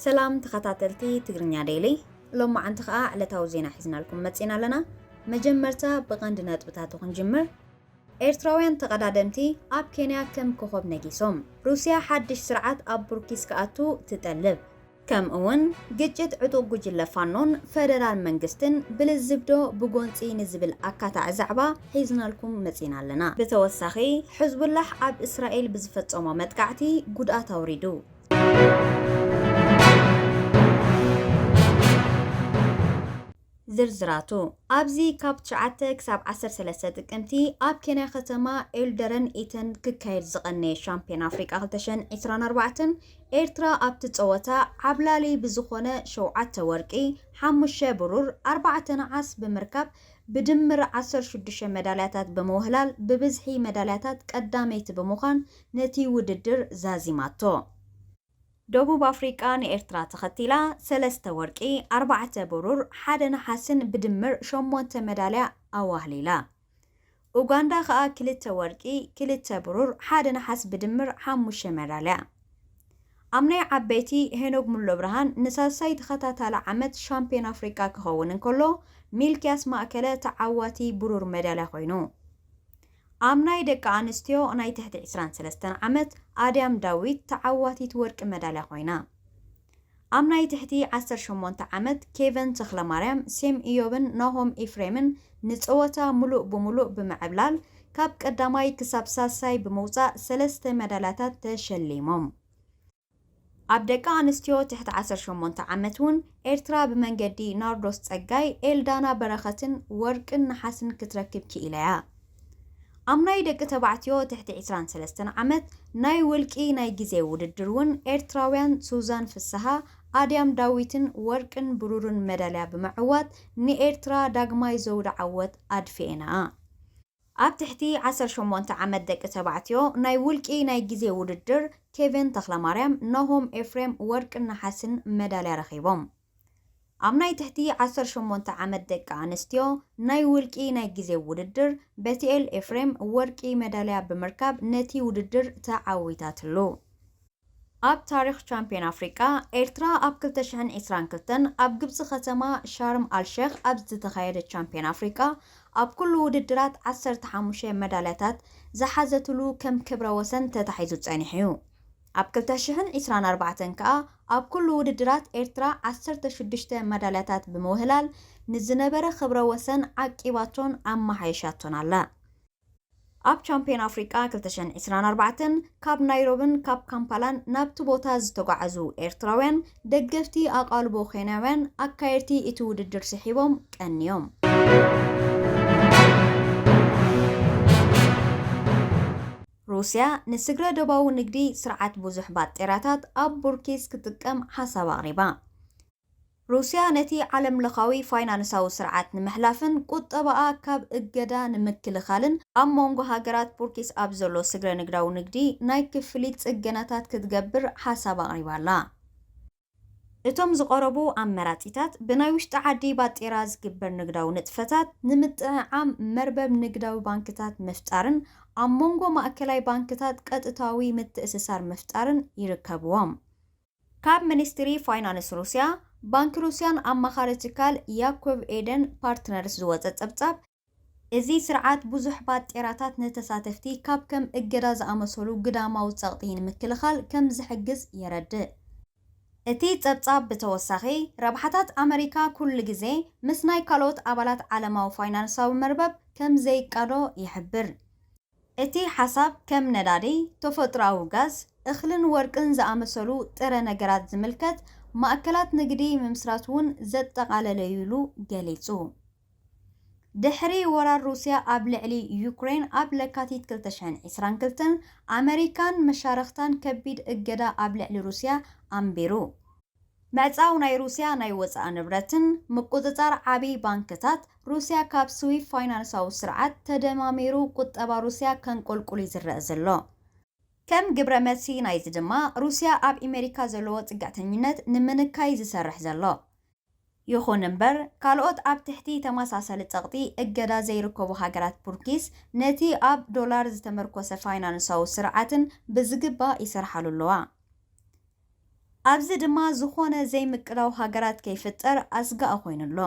ሰላም ተኸታተልቲ ትግርኛ ዴይሊ፣ ሎማዓንቲ ከዓ ዕለታዊ ዜና ሒዝናልኩም መፂና ኣለና። መጀመርታ ብቐንዲ ነጥብታቱ ክንጅምር። ኤርትራውያን ተቐዳደምቲ ኣብ ኬንያ ከም ኮኾብ ነጊሶም። ሩስያ ሓድሽ ስርዓት ኣብ ቡርኪስ ክኣቱ ትጠልብ። ከምእውን ግጭት ዕጡቕ ጉጅለ ፋኖን ፈደራል መንግስትን ብልዝብ ዶ ብጎንፂ ንዝብል ኣካታዒ ዛዕባ ሒዝናልኩም መፂእና ኣለና። ብተወሳኺ ሕዝቡላሕ ኣብ እስራኤል ብዝፈፀሞ መጥቃዕቲ ጉድኣት ኣውሪዱ። ዝርዝራቱ ኣብዚ ካብ ትሽዓተ ክሳብ ዓሰርተ ሰለስተ ጥቅምቲ ኣብ ኬንያ ከተማ ኤልደረን ኢተን ክካየድ ዝቐነየ ሻምፕዮን ኣፍሪቃ ክልተ ሽሕን ዕስራን ኣርባዕተን ኤርትራ ኣብቲ ጸወታ ዓብላሊ ብዝኾነ ሸውዓተ ወርቂ፣ ሓሙሽተ ብሩር፣ ኣርባዕተ ነሓስ ብምርካብ ብድምር ዓሰርተ ሽዱሽተ መዳልያታት ብምውህላል ብብዝሒ መዳልያታት ቀዳመይቲ ብምዃን ነቲ ውድድር ዛዚማቶ። ደቡብ ኣፍሪቃ ንኤርትራ ተኸቲላ ሰለስተ ወርቂ፣ ኣርባዕተ ብሩር፣ ሓደ ነሓስን ብድምር ሸሞንተ መዳልያ ኣዋህሊላ። ኡጋንዳ ከኣ ክልተ ወርቂ፣ ክልተ ብሩር፣ ሓደ ነሓስ ብድምር ሓሙሽተ መዳልያ። ኣብ ናይ ዓበይቲ ሄኖግ ሙሉብርሃን ንሳልሳይ ተኸታታሊ ዓመት ሻምፕዮን ኣፍሪቃ ክኸውን እንከሎ ሚልክያስ ማእከለ ተዓዋቲ ብሩር መዳልያ ኮይኑ። ኣብ ናይ ደቂ ኣንስትዮ ናይ ትሕቲ ዕስራን ሰለስተን ዓመት ኣድያም ዳዊት ተዓዋቲት ወርቂ መዳልያ ኮይና። ኣብ ናይ ትሕቲ ዓሰርተ ሸሞንተ ዓመት ኬቨን ተኽለማርያም፣ ሴም ኢዮብን ናሆም ኤፍሬምን ንጸወታ ምሉእ ብምሉእ ብምዕብላል ካብ ቀዳማይ ክሳብ ሳልሳይ ብምውጻእ ሰለስተ መዳልያታት ተሸሊሞም። ኣብ ደቂ ኣንስትዮ ትሕቲ ዓሰርተ ሸሞንተ ዓመት ውን ኤርትራ ብመንገዲ ናርዶስ ጸጋይ፣ ኤልዳና በረኸትን ወርቅን ነሓስን ክትረክብ ክኢላ'ያ። ኣብ ናይ ደቂ ተባዕትዮ ትሕቲ ዕስራን ሰለስተን ዓመት ናይ ውልቂ ናይ ግዜ ውድድር ውን ኤርትራውያን ሱዛን ፍስሃ፣ ኣድያም ዳዊትን ወርቅን ብሩርን መዳልያ ብምዕዋት ንኤርትራ ዳግማይ ዘውዲ ዓወት ኣድፊኤናኣ። ኣብ ትሕቲ ዓሰርተ ሸሞንተ ዓመት ደቂ ተባዕትዮ ናይ ውልቂ ናይ ግዜ ውድድር ኬቨን ተኽለማርያም፣ ናሆም ኤፍሬም ወርቅን ነሓስን መዳልያ ረኺቦም። ኣብ ናይ ትሕቲ ዓሰርተ ሸሞንተ ዓመት ደቂ ኣንስትዮ ናይ ውልቂ ናይ ግዜ ውድድር በቲኤል ኤፍሬም ወርቂ መዳልያ ብምርካብ ነቲ ውድድር ተዓዊታትሉ። ኣብ ታሪኽ ቻምፕዮን ኣፍሪቃ፣ ኤርትራ ኣብ ክልተ ሽሕን ዕስራን ክልተን ኣብ ግብጺ ከተማ ሻርም ኣልሸኽ ኣብ ዝተኻየደ ቻምፕዮን ኣፍሪቃ ኣብ ኩሉ ውድድራት ዓሰርተ ሓሙሽተ መዳልያታት ዝሓዘትሉ ከም ክብረ ወሰን ተታሒዙ ጸኒሑ'ዩ። ኣብ ክልተ ሽሕን ዕስራን ኣርባዕተን ከኣ ኣብ ኩሉ ውድድራት ኤርትራ ዓሰርተ ሽዱሽተ መዳልያታት ብምውህላል ንዝነበረ ክብረ ወሰን ዓቂባቶን ኣመሓይሻቶን ኣላ። ኣብ ቻምፕዮን ኣፍሪቃ ክልተ ሽሕን ዕስራን ኣርባዕተን ካብ ናይሮብን ካብ ካምፓላን ናብቲ ቦታ ዝተጓዓዙ ኤርትራውያን ደገፍቲ ኣቓልቦ ኬንያውያን ኣካየድቲ እቲ ውድድር ስሒቦም ቀንዮም። ሩስያ ንስግረ ዶባዊ ንግዲ ስርዓት ብዙሕ ባጤራታት ኣብ ቡርኪስ ክትጥቀም ሓሳብ ኣቕሪባ። ሩስያ ነቲ ዓለምለኻዊ ፋይናንሳዊ ስርዓት ንምሕላፍን ቁጠባኣ ካብ እገዳ ንምክልኻልን ኣብ ሞንጎ ሃገራት ቡርኪስ ኣብ ዘሎ ስግረ ንግዳዊ ንግዲ ናይ ክፍሊት ጽገናታት ክትገብር ሓሳብ ኣቕሪባ ኣላ። እቶም ዝቐረቡ ኣመራጺታት ብናይ ውሽጢ ዓዲ ባጤራ ዝግበር ንግዳዊ ንጥፈታት ንምጥዕዓም መርበብ ንግዳዊ ባንክታት ምፍጣርን ኣብ ሞንጎ ማእከላይ ባንክታት ቀጥታዊ ምትእስሳር ምፍጣርን ይርከብዎም። ካብ ሚኒስትሪ ፋይናንስ ሩስያ፣ ባንኪ ሩስያን ኣማኻሪ ትካል ያኮቭ ኤደን ፓርትነርስ ዝወጸ ጸብጻብ፣ እዚ ስርዓት ብዙሕ ባጤራታት ንተሳተፍቲ ካብ ከም እገዳ ዝኣመሰሉ ግዳማዊ ጸቕጢ ንምክልኻል ከም ዝሕግዝ የረድእ። እቲ ጸብጻብ ብተወሳኺ፣ ረብሓታት ኣመሪካ ኩሉ ግዜ ምስ ናይ ካልኦት ኣባላት ዓለማዊ ፋይናንሳዊ መርበብ ከም ዘይቃዶ ይሕብር። እቲ ሓሳብ ከም ነዳዲ፣ ተፈጥሮኣዊ ጋዝ፣ እኽልን ወርቅን ዝኣመሰሉ ጥረ ነገራት ዝምልከት ማእከላት ንግዲ ምምስራት'ውን ዘጠቓለለ'ዩ ኢሉ ገሊጹ። ድሕሪ ወራር ሩስያ ኣብ ልዕሊ ዩክረይን ኣብ ለካቲት ክልተ ሽሕን ዕስራን ክልተን፣ ኣመሪካን መሻርኽታን ከቢድ እገዳ ኣብ ልዕሊ ሩስያ ኣንቢሩ። ምዕጻው ናይ ሩስያ ናይ ወጻኢ ንብረትን ምቁጽጻር ዓቢ ባንክታት ሩስያ ካብ ስዊፍ ፋይናንሳዊ ስርዓት ተደማሚሩ ቁጠባ ሩስያ ከንቆልቁል እዩ ዝረኣ ዘሎ። ከም ግብረ መልሲ ናይዚ ድማ ሩስያ ኣብ ኢመሪካ ዘለዎ ጽግዕተኝነት ንምንካይ ዝሰርሕ ዘሎ። ይኹን እምበር ካልኦት ኣብ ትሕቲ ተመሳሳሊ ጸቕጢ እገዳ ዘይርከቡ ሃገራት ቡርኪስ ነቲ ኣብ ዶላር ዝተመርኮሰ ፋይናንሳዊ ስርዓትን ብዝግባእ ይሰርሓሉ ኣለዋ። ኣብዚ ድማ ዝኾነ ዘይምቅላው ሃገራት ከይፍጠር ኣስጋኢ ኮይኑ ኣሎ።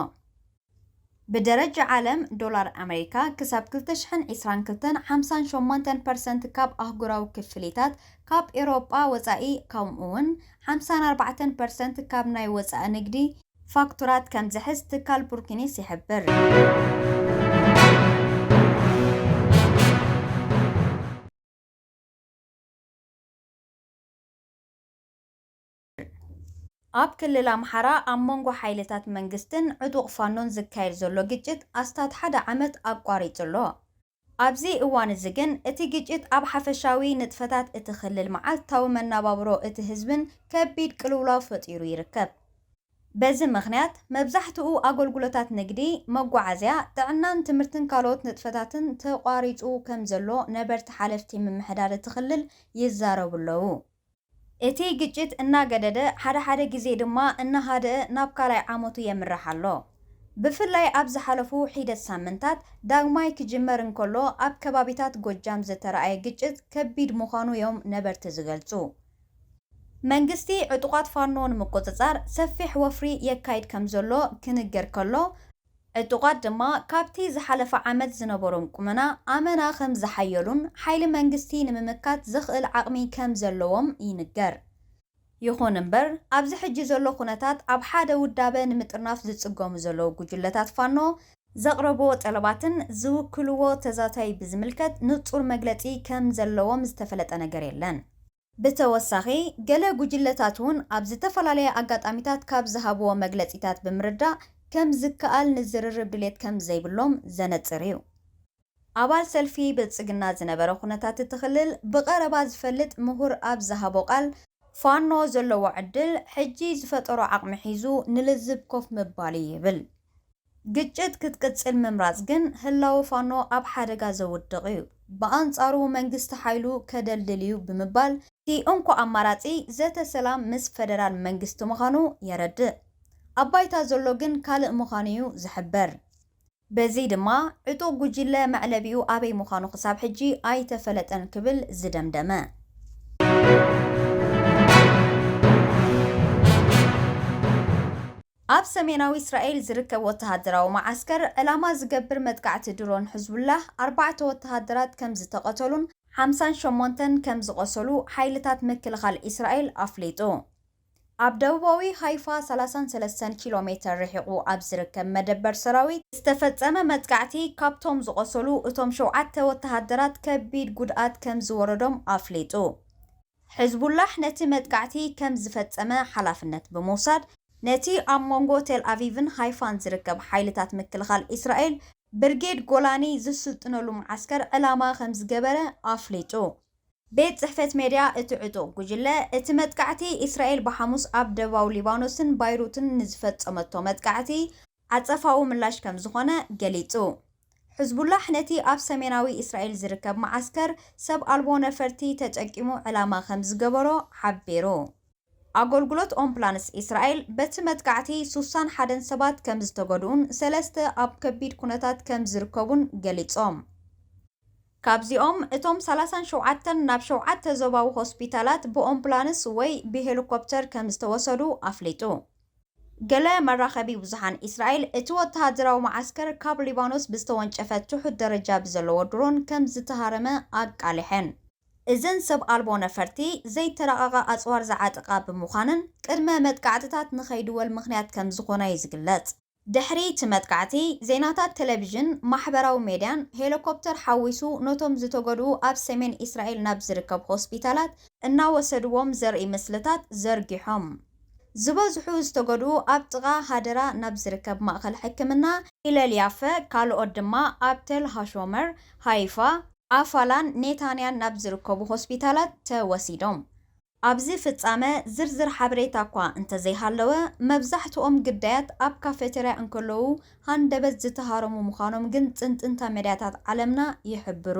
ብደረጃ ዓለም፣ ዶላር ኣመሪካ ክሳብ ክልተ ሽሕን ዕስራን ክልተን ሓምሳን ሸሞንተን ፐርሰንት ካብ ኣህጉራዊ ክፍሊታት፣ ካብ ኤውሮጳ ወጻኢ ከምኡ'ውን ሓምሳን ኣርባዕተን ፐርሰንት ካብ ናይ ወጻኢ ንግዲ፣ ፋክቱራት፣ ከም ዝሕዝ ትካል ቡርኪኒስ ይሕብር። ኣብ ክልል ኣምሓራ ኣብ መንጎ ሓይልታት መንግስትን ዕጡቕ ፋኖን ዝካየድ ዘሎ ግጭት ኣስታት ሓደ ዓመት ኣቋሪጹ ኣሎ። ኣብዚ እዋን እዚ ግን እቲ ግጭት ኣብ ሓፈሻዊ ንጥፈታት እቲ ክልል መዓልታዊ መነባብሮ እቲ ህዝብን ከቢድ ቅልውላው ፈጢሩ ይርከብ። በዚ ምኽንያት መብዛሕትኡ ኣገልግሎታት ንግዲ፣ መጓዓዝያ፣ ጥዕናን ትምህርትን ካልኦት ንጥፈታትን ተቋሪፁ ከምዘሎ ነበርቲ ሓለፍቲ ምምሕዳር እቲ ክልል ይዛረቡ'ለዉ። እቲ ግጭት እናገደደ ሓደ ሓደ ግዜ ድማ እናሃደኣ ናብ ካልኣይ ዓመቱ የምርሕ ኣሎ። ብፍላይ ኣብ ዝሓለፉ ሒደት ሳምንታት ዳግማይ ክጅመር እንከሎ ኣብ ከባቢታት ጎጃም ዝተርኣየ ግጭት ከቢድ ምዃኑ'ዮም ነበርቲ ዝገልፁ። መንግስቲ ዕጡቓት ፋኖ ንምቁጽጻር ሰፊሕ ወፍሪ የካይድ ከምዘሎ ክንገር ከሎ፣ ዕጡቓት ድማ ካብቲ ዝሓለፈ ዓመት ዝነበሮም ቁመና ኣመና ከምዝሓየሉን ሓይሊ መንግስቲ ንምምካት ዘኽእል ዓቕሚ ከምዘለዎም ይንገር። ይኹን እምበር ኣብዚ ሕጂ ዘሎ ኩነታት ኣብ ሓደ ውዳበ ንምጥርናፍ ዝጽገሙ ዘለዉ ጉጅለታት ፋኖ፣ ዘቕረቡዎ ጠለባትን ዝውክሉዎ ተዛታይ ብዝምልከት ንጹር መግለጺ ከም ዘለዎም ዝተፈለጠ ነገር የለን። ብተወሳኺ ገለ ጉጅለታት'ውን ኣብ ዝተፈላለየ ኣጋጣሚታት ካብ ዝሃቡዎ መግለጺታት ብምርዳእ ከም ዝከኣል ንዝርርብ ድሌት ከም ዘይብሎም ዘነጽር'ዩ። ኣባል ሰልፊ ብልፅግና ዝነበረ ኩነታት እቲ ክልል ብቐረባ ዝፈልጥ ምሁር ኣብ ዝሃቦ ቃል፣ ፋኖ ዘለዎ ዕድል ሕጂ ዝፈጠሮ ዓቕሚ ሒዙ ንልዝብ ኮፍ ምባል እዩ ይብል። ግጭት ክትቅፅል ምምራፅ ግን ህላወ ፋኖ ኣብ ሓደጋ ዘውድቕ እዩ፣ ብኣንፃሩ መንግስቲ ሓይሉ ከደልድል እዩ ብምባል፣ እቲ እንኮ ኣማራፂ ዘተ ሰላም ምስ ፈደራል መንግስቲ ምዃኑ የረድእ፣ ኣብ ባይታ ዘሎ ግን ካልእ ምዃኑ እዩ ዝሕበር። በዚ ድማ ዕጡቕ ጉጅለ መዕለቢኡ ኣበይ ምዃኑ ክሳብ ሕጂ ኣይተፈለጠን ክብል ዝደምደመ። ኣብ ሰሜናዊ እስራኤል ዝርከብ ወተሃደራዊ መዓስከር ዕላማ ዝገብር መጥቃዕቲ ድሮን ሕዝቡላህ ኣርባዕተ ወተሃደራት ከምዝተቐተሉን ሓምሳን ሸሞንተን ከምዝቖሰሉ ሓይልታት ምክልኻል እስራኤል ኣፍሊጡ። ኣብ ደቡባዊ ሃይፋ ሰላሳን ሰለስተን ኪሎ ሜተር ርሒቑ ኣብ ዝርከብ መደበር ሰራዊት ዝተፈጸመ መጥቃዕቲ፣ ካብቶም ዝቖሰሉ እቶም ሸውዓተ ወተሃደራት ከቢድ ጉድኣት ከም ዝወረዶም ኣፍሊጡ። ሕዝቡላሕ ነቲ መጥቃዕቲ ከም ዝፈጸመ ሓላፍነት ብምውሳድ፣ ነቲ ኣብ መንጎ ቴልኣቪቭን ሃይፋን ዝርከብ ሓይልታት ምክልኻል እስራኤል ብርጌድ ጎላኒ ዝስልጥነሉ መዓስከር ዕላማ ከም ዝገበረ ኣፍሊጡ። ቤት ጽሕፈት ሜድያ እቲ ዕጡቕ ጕጅለ፣ እቲ መጥቃዕቲ እስራኤል ብሓሙስ ኣብ ደቡባዊ ሊባኖስን ባይሩትን ንዝፈጸመቶ መጥቃዕቲ ዓጸፋዊ ምላሽ ከም ዝዀነ ገሊጹ። ሕዝቡላሕ ነቲ ኣብ ሰሜናዊ እስራኤል ዝርከብ መዓስከር ሰብ ኣልቦ ነፈርቲ ተጠቂሙ ዕላማ ከም ዝገበሮ ሓቢሩ። ኣገልግሎት ኦምፕላንስ እስራኤል፣ በቲ መጥቃዕቲ ሱሳን ሓደን ሰባት ከም ዝተጐድኡን ሰለስተ ኣብ ከቢድ ኵነታት ከም ዝርከቡን ገሊጾም። ካብዚኦም እቶም ሰላሳን ሸውዓተን ናብ ሸውዓተ ዞባዊ ሆስፒታላት ብኦምፕላንስ ወይ ብሄሊኮፕተር ከም ዝተወሰዱ ኣፍሊጡ። ገለ መራኸቢ ብዙሓን ኢስራኤል እቲ ወተሃደራዊ መዓስከር ካብ ሊባኖስ ብዝተወንጨፈ ትሑት ደረጃ ብዘለዎ ድሮን ከም ዝተሃረመ ኣቃሊሐን። እዘን ሰብ ኣልቦ ነፈርቲ ዘይተራቐቐ ኣጽዋር ዝዓጥቓ ብምዃነን ቅድመ መጥቃዕትታት ንኸይድወል ምኽንያት ከም ዝኾና'ዩ ዝግለጽ። ድሕሪ እቲ መጥቃዕቲ፣ ዜናታት ቴሌቪዥን፣ ማሕበራዊ ሜድያን ሄሊኮፕተር ሓዊሱ ነቶም ዝተጎድኡ ኣብ ሰሜን እስራኤል ናብ ዝርከብ ሆስፒታላት እናወሰድዎም ዘርኢ ምስልታት ዘርጊሖም። ዝበዝሑ ዝተጎድኡ ኣብ ጥቓ ሃደራ ናብ ዝርከብ ማእከል ሕክምና ሂለል ያፈ፣ ካልኦት ድማ ኣብ ተል ሃሾመር፣ ሃይፋ፣ ኣፋላን ኔታንያን ናብ ዝርከቡ ሆስፒታላት ተወሲዶም። ኣብዚ ፍጻመ ዝርዝር ሓበሬታ እኳ እንተዘይሃለወ፣ መብዛሕትኦም ግዳያት ኣብ ካፌተርያ እንከለዉ ሃንደበት ዝተሃረሙ ምዃኖም ግን ጽንጽንታ ሜድያታት ዓለምና ይሕብሩ።